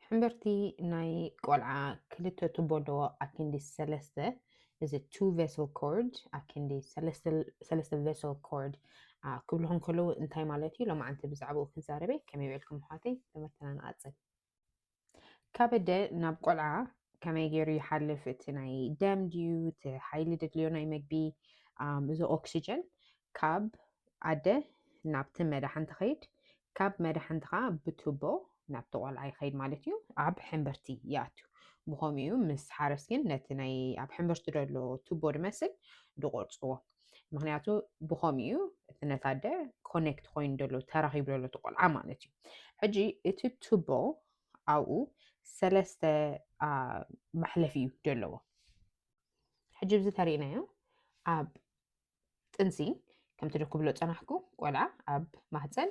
ሕምብርቲ ናይ ቆልዓ ክልተ ቱቦ ኣለዎ ኣክንዲ ሰለስተ እዚ ቱ ቬሰል ኮርድ ኣክንዲ ሰለስተ ቬሰል ኮርድ ክብልኹም ከለዉ እንታይ ማለት እዩ ሎማዓንቲ ብዛዕባኡ ክዛረበ ከመይ ውዒልኩም ኣሕዋተይ ትምህርትና ንቐፅል ካበደ ናብ ቆልዓ ከመይ ገይሩ ይሓልፍ እቲ ናይ ደም ድዩ እቲ ሓይሊ ደድልዮ ናይ መግቢ እዚ ኦክሲጅን ካብ ኣደ ናብቲ መዳሕንቲ ኸይድ፣ ካብ መዳሕንቲ ኸዓ ብቱቦ ናብቲ ቆልዓ ይኸይድ ማለት እዩ። ኣብ ሕምብርቲ ይኣቱ። ብኸምኡ እዩ ምስ ሓረስ ግን ነቲ ናይ ኣብ ሕምብርቲ ዘሎ ቱቦ ድመስል ድቆርፅዎ። ምክንያቱ ብኸምኡ እዩ እቲ ነታ ኣደ ኮኔክት ኮይኑ ዘሎ ተራኺቡ ዘሎ እቲ ቆልዓ ማለት እዩ። ሕጂ እቲ ቱቦ ኣብኡ ሰለስተ መሕለፊ እዩ ዘለዎ። ሕጂ ብዚ ተሪእናዮ ኣብ ጥንሲ ከምቲ ዶ ክብሎ ጸናሕኩ ቆልዓ ኣብ ማህጸን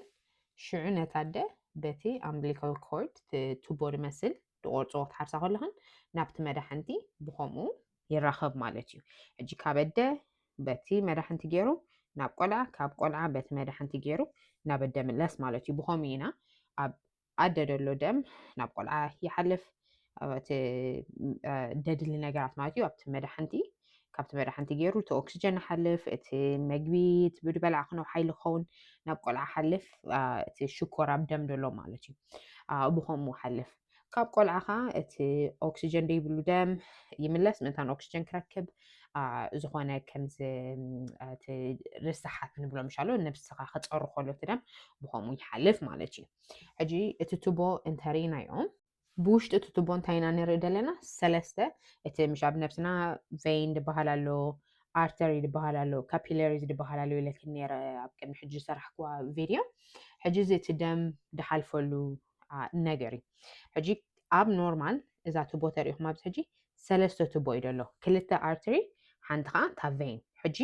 ሽዑ ነታ ኣደ በቲ ኣምብሊካል ኮርድ ቱቦ ድመስል ድቆርጽዎ ክትሓርሳ ከለኽን ናብቲ መዳሕንቲ ብኸምኡ ይራኸብ ማለት እዩ ሕጂ ካብ ኣደ በቲ መዳሕንቲ ገይሩ ናብ ቆልዓ ካብ ቆልዓ በቲ መዳሕንቲ ገይሩ ናብ ኣደ ምለስ ማለት እዩ ብኸምኡ ኢና ኣብ ኣደ ደሎ ደም ናብ ቆልዓ ይሓልፍ እቲ ደድሊ ነገራት ማለት እዩ ኣብቲ መድሓንቲ ካብቲ መድሓንቲ ገይሩ እቲ ኦክስጀን ሓልፍ እቲ መግቢ ብድበላዕ ክነው ሓይሊ ክኸውን ናብ ቆልዓ ሓልፍ እቲ ሽኮር ኣብ ደም ደሎ ማለት እዩ ብከምኡ ሓልፍ ካብ ቆልዓ ከዓ እቲ ኦክስጀን ደይብሉ ደም ይምለስ ምእንታን ኦክስጀን ክረክብ ዝኾነ ከምዚ ርስሓት ንብሎ ምሻሎ ነብስኻ ክፀሩ ከሎ እቲ ደም ብከምኡ ይሓልፍ ማለት እዩ ሕጂ እቲ ቱቦ እንተሪኢናዮ ብውሽጢ እቲ ቱቦ እንታይ ኢና ንርኢ ዘለና ሰለስተ እቲ ምሽ ኣብ ነብስና ቬይን ዝበሃል ኣሎ ኣርተሪ ዝበሃል ኣሎ ካፒለሪ ዝበሃል ኣሎ ኢለክን ነረ ኣብ ቅድሚ ሕጂ ዝሰራሕክዋ ቪድዮ ሕጂ እዚ እቲ ደም ድሓልፈሉ ነገር እዩ ሕጂ ኣብ ኖርማል እዛ ትቦ ተሪኢኹም ኣብዚ ሕጂ ሰለስተ ቱቦ እዩ ዘሎ ክልተ ኣርትሪ ሓንቲ ከዓ እታ ቬን ሕጂ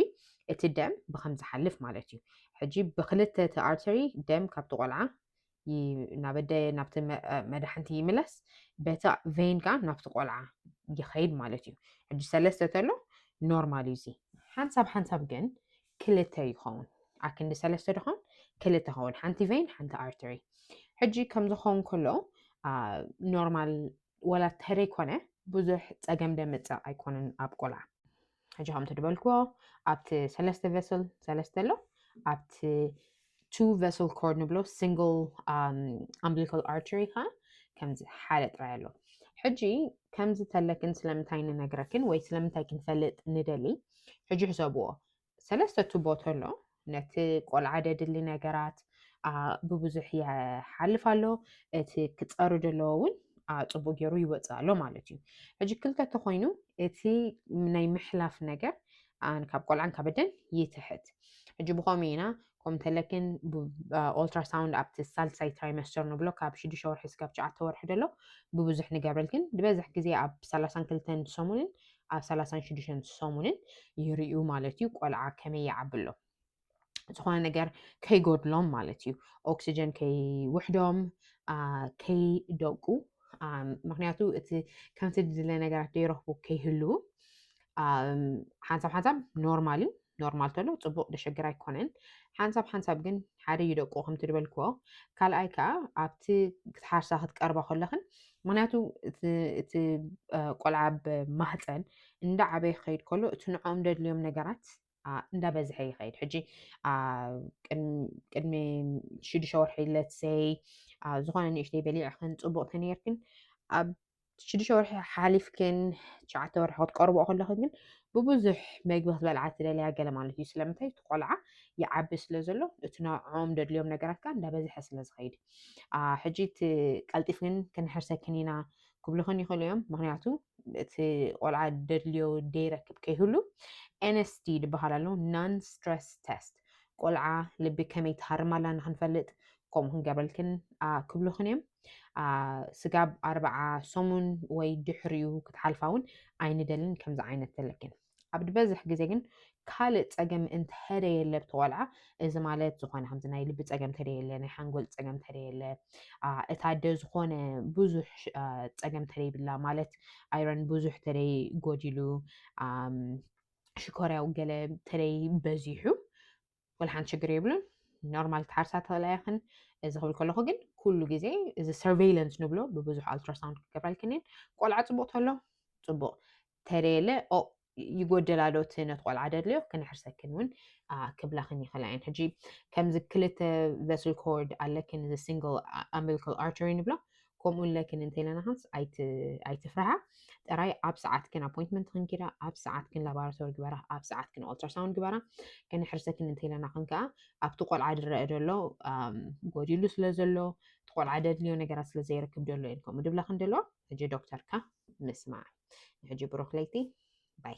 እቲ ደም ብከም ዝሓልፍ ማለት እዩ ሕጂ ብክልተ እቲ ኣርትሪ ደም ካብቲ ቆልዓ ናበደ ናብቲ መድሓንቲ ይምለስ በቲ ቬን ከዓ ናብቲ ቆልዓ ይኸይድ ማለት እዩ ሕጂ ሰለስተ ተሎ ኖርማል እዩ እዚ ሓንሳብ ሓንሳብ ግን ክልተ ይኸውን ኣክንዲ ሰለስተ ድኾን ክልተ ኸውን ሓንቲ ቬን ሓንቲ ኣርትሪ ሕጂ ከምዝኸውን ከሎ ኖርማል ወላ ተረይ ኮነ ብዙሕ ፀገም ደምፅእ ኣይኮነን ኣብ ቆልዓ ሕጂ ከምቲ ዝበልክዎ ኣብቲ ሰለስተ ቨስል ሰለስተ ኣሎ ኣብቲ ቱ ቨስል ኮርድ ንብሎ ሲንግል ኣምብሊካል ኣርቸሪ ከዓ ከምዚ ሓደ ጥራይ ኣሎ ሕጂ ከምዚ ተለክን ስለምንታይ ንነግረክን ወይ ስለምንታይ ክንፈልጥ ንደሊ ሕጂ ሕሰብዎ ሰለስተ ቱቦ ተሎ ነቲ ቆልዓ ደድሊ ነገራት ብብዙሕ ይሓልፍ ኣሎ እቲ ክፀሩ ዘለዎ እውን ፅቡቅ ገይሩ ይወፅእ ኣሎ ማለት እዩ ሕጂ ክልተ ተኮይኑ እቲ ናይ ምሕላፍ ነገር ካብ ቆልዓን ካብ ደን ይትሕት ሕጂ ብከምኡ ኢና ከምኡ እንተለክን ኦልትራሳውንድ ኣብቲ ሳልሳይ ትራይመስተር ንብሎ ካብ ሽዱሽተ ወርሒ ስጋብ ትሽዓተ ወርሒ ደሎ ብብዙሕ ንገብረልክን ዝበዝሕ ግዜ ኣብ ሰላሳን ክልተን ሰሙንን ኣብ ሰላሳን ሽዱሽተን ሰሙንን ይርዩ ማለት እዩ ቆልዓ ከመይ ይዓቢ ኣሎ ዝኾነ ነገር ከይጎድሎም ማለት እዩ ኦክሲጀን ከይውሕዶም ከይደቁ ምክንያቱ እቲ ከምቲ ዝድለ ነገራት ዘይረኽቡ ከይህልው ሓንሳብ ሓንሳብ ኖርማል እዩ ኖርማል ተሎ ፅቡቅ ደሸግር ኣይኮነን ሓንሳብ ሓንሳብ ግን ሓደ እዩ ደቁ ከምቲ ዝበልክዎ ካልኣይ ከዓ ኣብቲ ክትሓርሳ ክትቀርባ ከለኽን ምክንያቱ እቲ ቆልዓ ብማህፀን እንዳ ዓበይ ክኸይድ ከሎ እቲ ንዕኦም ደድልዮም ነገራት እንዳበዝሐ ይኸይድ ሕጂ ቅድሚ ሽዱሽተ ወርሒ ለትሰይ ዝኾነ ንእሽተይ በሊዕኽን ፅቡቅ ተነርክን ኣብ ሽዱሽተ ወርሒ ሓሓሊፍክን ትሽዓተ ወርሒ ክትቀርብኦ ከለኽን ግን ብብዙሕ መግቢ ክትበልዓ ትደልያ ገለ ማለት እዩ ስለምንታይ እቲ ቆልዓ ይዓቢ ስለ ዘሎ እቲ ንዕኦም ደድልዮም ነገራት ከዓ እንዳበዝሐ ስለ ዝኸይድ ሕጂ እቲ ቀልጢፍክን ክንሕርሰክን ኢና ክብልኽን ይኽእሉ እዮም ምክንያቱ እቲ ቆልዓ ደድልዮ ደይረክብ ከይህሉ ኤንስቲ ዝበሃል ኣሎ ናን ስትረስ ተስት ቆልዓ ልቢ ከመይ ትሃርም ኣላ ንክንፈልጥ ከምኡ ክንገብረልክን ክብልኽን እዮም ስጋብ ኣርብዓ ሰሙን ወይ ድሕሪኡ ክትሓልፋ እውን ኣይንደልን ከምዚ ዓይነት ዘለክን ኣብ ዝበዝሕ ግዜ ግን ካልእ ፀገም እንተደየለ ብቲ ቆልዓ እዚ ማለት ዝኾነ ከምዚ ናይ ልቢ ፀገም ተደየለ ናይ ሓንጎል ፀገም ተደየለ እታ ደ ዝኾነ ብዙሕ ፀገም ተደይብላ ማለት ኣይረን ብዙሕ ተደይ ጎዲሉ ሽኮርያው ገለ ተደይ በዚሑ ወላ ሓንቲ ሽግር የብሉን ኖርማል ትሓርሳ ትኽእላ ኢኽን እዚ ክብል ከለኹ ግን ኩሉ ግዜ እዚ ሰርቬይለንስ ንብሎ ብብዙሕ ኣልትራሳውንድ ክገብረልክንን ቆልዓ ፅቡቅ ተሎ ፅቡቅ ተደየለ ይጎደላ ዶ እቲ ነቲ ቆልዓ ደድልዮ ክነሕርሰክን እውን ክብላኽን ይኽእላ እየን ሕጂ ከምዚ ክልተ ቨስል ኮርድ ኣለክን እዚ ሲንግል ኣምቢሊካል ኣርተሪ ንብሎ ከምኡ እለ ክን እንተለና ክንስ ኣይትፍርሃ ጥራይ ኣብ ሰዓት ክን ኣፖይንትመንት ክንኪዳ ኣብ ሰዓት ክን ላባራቶሪ ግበራ ኣብ ሰዓት ክን ኦልትራሳውንድ ግበራ ከነሕርሰ ክን እንተለና ክን ከዓ ኣብቲ ቆልዓ ድረአ ደሎ ጎዲሉ ስለ ዘሎ እቲ ቆልዓ ደድልዮ ነገራት ስለ ዘይረክብ ደሎ እየን ከምኡ ድብላ ክን ደሎ ሕጂ ዶክተርካ ምስማዕ ንሕጂ ብሩክ ለይቲ ባይ